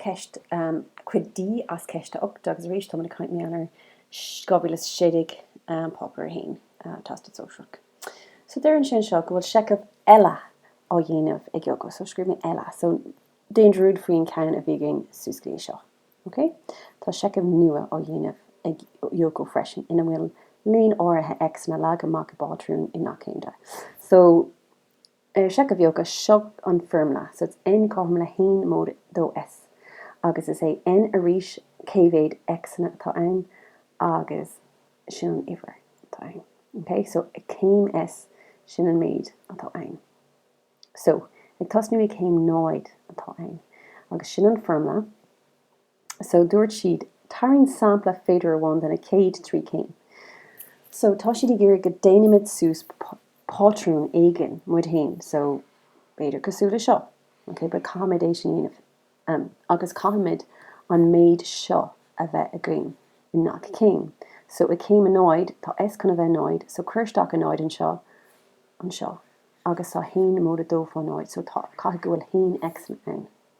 ceist, cuid D as ceist a 8 agus arís, tá muid ag caint mí Eanáir 2016, Páipéar 1, Teastas Sóisearach. So deireann sé anseo go bhfuil seicheamh eile á dhéanamh ag Yoko, so scríobh mé eile, so déan dearúd faoin ceann a bhí againn suas go dtí seo. Ok? Tá seicheamh nua á dhéanamh ag Yoko freisin ina bhfuil líon áirithe X-anna leagtha amach i bpátrún i ngach céim de. So. I seicheamh Yoko, seo an foirmle, so it's N cothrom le haon móide dó S, agus is é N arís cé mhéad X-anna atá ann, agus sin an uimhir atá ann. OK? So, ag céim S, sin an méid atá ann. So, ag tosnú ag céim náid atá ann, agus sin an foirmle. So, dúirt siad, tarraing sampla féidir amháin de na chéad trí chéim. So, tá siad ag iarraidh go déanfaimid suas pátrún éigin muid féin. So, b'fhéidir cosúil le seo. OK, but caithfimid é sin a dhéanamh. Em, agus caithfimid an méid seo a bheith againn i ngach céim. So, i gcéim a náid, tá S chun a bheith náid, so cuir isteach a náid anseo, anseo, agus tá haon móide dó fá náid, so tá, caithfidh go bhfuil haon X ann.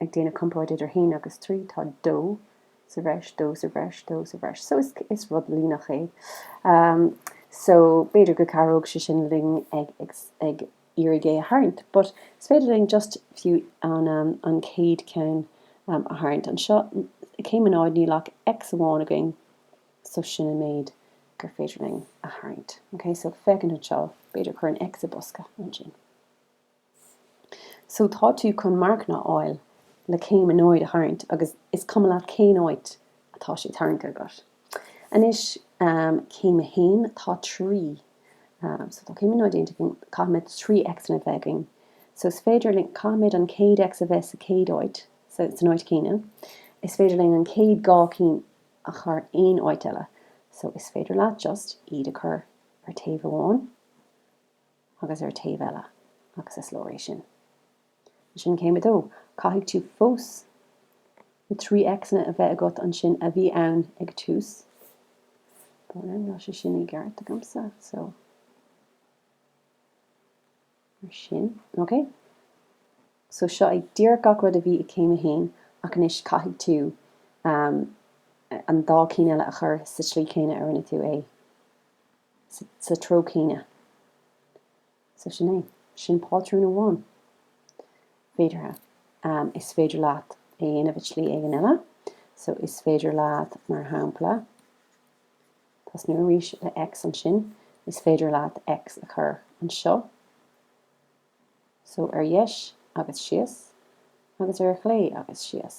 ag déanamh comparáid idir 1 agus 3, tá 2 sa bhreis, 2 sa bhreis, 2 sa bhreis, so is is rud líneach é. So, b'fhéidir go gcabhródh sé sin linn ag ag ag iarraidh é a tharraingt, but is féidir linn just fiú an an chéad cheann a tharraingt. Anseo, céim a náid, níl ach X amháin againn, so sin an méid gur féidir linn a tharraingt. Okay, so féachaint anseo, b'fhéidir chuirfinn X i bosca ansin. So tá tú chun marcanna a fháil le céim a náid a tharraingt agus is cuma leat cén áit atá sé tarraingthe agat. Anois céim a haon, tá trí, so tá céim a náid déanta againn, caithfimid trí x'anna a bheith againn. So is féidir linn, caithfimid an chéad x a bheith sa chéad áit, san áit chéanna, is féidir linn an chéad dhá cinn a chur aon áit eile. So is féidir leat just iad a chur ar taobh amháin. agus ar taobh eile agus is leor é sin. Ansin céim a dó, caithfidh tú fós na trí X-anna a bheith agat ansin a bhí ann ag tús, bhuel an raibh sé sin i gceart agamsa? So. mar sin, ok? So seo é díreach gach rud a bhí i céim a haon ach anois caithfidh tú an dá cinn eile a chur sa tslí chéanna a rinne tú é. sa treo céanna. So sin é. Sin pátrún amháin. Féideartha. Is féidir leat é a dhéanamh i tslí éigin eile. So is féidir leat, mar shampla, tosnú arís le X ansin. Is féidir leat X a chur anseo. so ar dheis agus síos agus ar chlé agus síos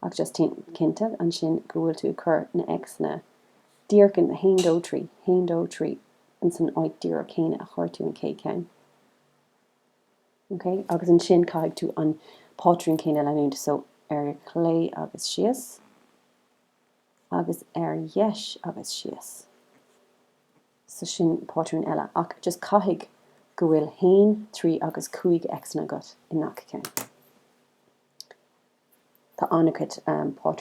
ach just déan cinnte ansin go bhfuil tú ag cur na X-anna díreach ina haon dó trí, haon dó trí in san áit díreach céanna a chuir tú an chéad cheann. Ok, agus ansin caithfidh tú an pátrún céanna a leanúint so ar chlé agus síos agus ar dheis agus síos. So sin pátrún eile, ach just caithfidh go bhfuil haon, trí agus cúig X-anna agat i ngach ceann. Tá an-chuid pátrúin.